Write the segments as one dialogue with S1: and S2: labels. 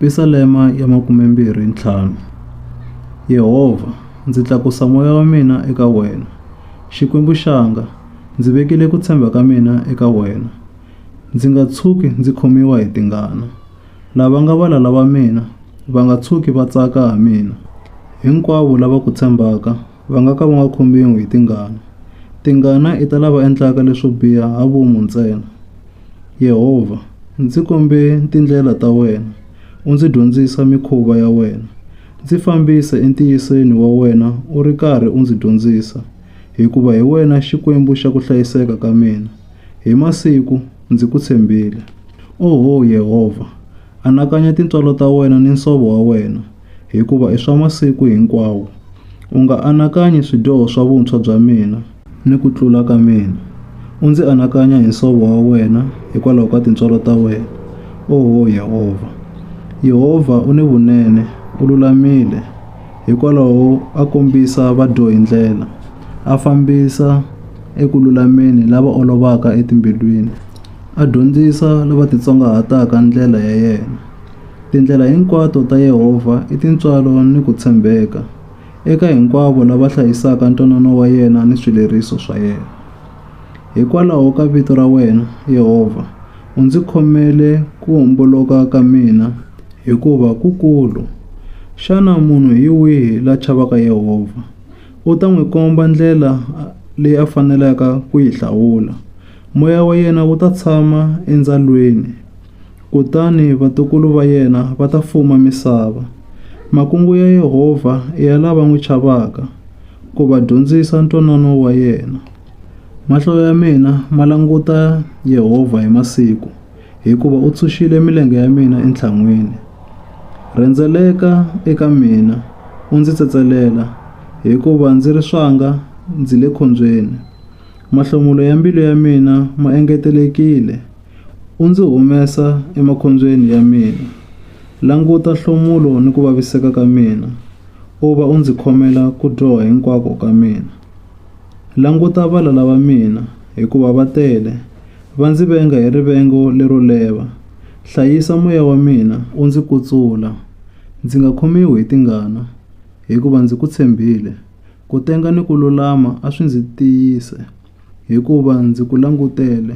S1: Pisalema ya 25 Yehovha, ndzi tlakusa moya wa mina eka wena. Xikwembu xanga, ndzi vekile ku tshemba ka mina eka wena. Ndzi nga tshuki ndzi khomiwa hi tingana. Lava nga valala va mina va nga tshuki va tsaka ha mina. Hinkwavo lava ku tshembaka va nga ka va nga khomiwi hi tingana. Tingana i ta lava endlaka leswo biha ha vomu ntsena. Yehovha, ndzi kombe tindlela ta wena, u ndzi dyondzisa mikhuva ya wena. Ndzi fambise entiyisweni wa wena u ri karhi u ndzi dyondzisa, hikuva hi wena Xikwembu xa ku hlayiseka ka mina. Hi masiku ndzi ku tshembile. Oho Yehovha, anakanya tintswalo ta wena ni nsovo wa wena. hikuva i swa masiku hinkwawo. U nga anakanyi swidyoho swa vuntshwa bya mina ni ku tlula ka mina, u ndzi anakanya hi nsovo wa wena hikwalaho ka tintswalo ta wena, oho Yehovha. Yehovha u ni vunene, u lulamile, hikwalaho a kombisa vadyohi ndlela, a fambisa eku lulameni lava olovaka etimbilwini, a dyondzisa lava titsongahataka ndlela ya yena. Tindlela hinkwato ta Yehovha i tintswalo ni ku tshembeka eka hinkwavo lava hlayisaka ntwanano wa yena ni swileriso swa yena. Hikwalaho ka vito ra wena, Yehovha, u ndzi khomele ku homboloka ka mina, hikuva ku kulu. Xana munhu hi wihi la chavaka Yehovha? U ta n'wi komba ndlela leyi a fanelaka ku yi hlawula. Moya wa yena wu ta tshama endzalweni. Kutani vatukulu va yena va ta fuma misava. Makungu ya Yehovha i ya lava n'wi chavaka, ku va dyondzisa ntwanano wa yena. Mahlo ya mina ma languta Yehovha hi masiku, hikuva u tshunxile milenge ya mina entlhan'wini. Rhendzeleka eka mina, u ndzi tsetselela, hikuva ndzi ri swanga ndzi le khombyeni. Mahlomulo ya mbilu ya mina ma engetelekile, U ndzi humesa emakhombyeni ya mina. Languta nhlomulo ni ku vaviseka ka mina, u va u ndzi khomela ku dyoha hinkwako ka mina. Languta valala va mina, hikuva va tele, va ndzi venga hi rivengo lero leva. Hlayisa moya wa mina, u ndzi kutsula, ndzi nga khomiwi hi tingana, hikuva ndzi ku tshembile. Ku tenga ni ku lulama a swi ndzi tiyise. hikuva ndzi ku langutele,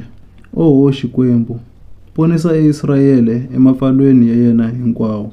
S1: oho Xikwembu, ponisa Israele emapfalweni ya yena hinkwawo.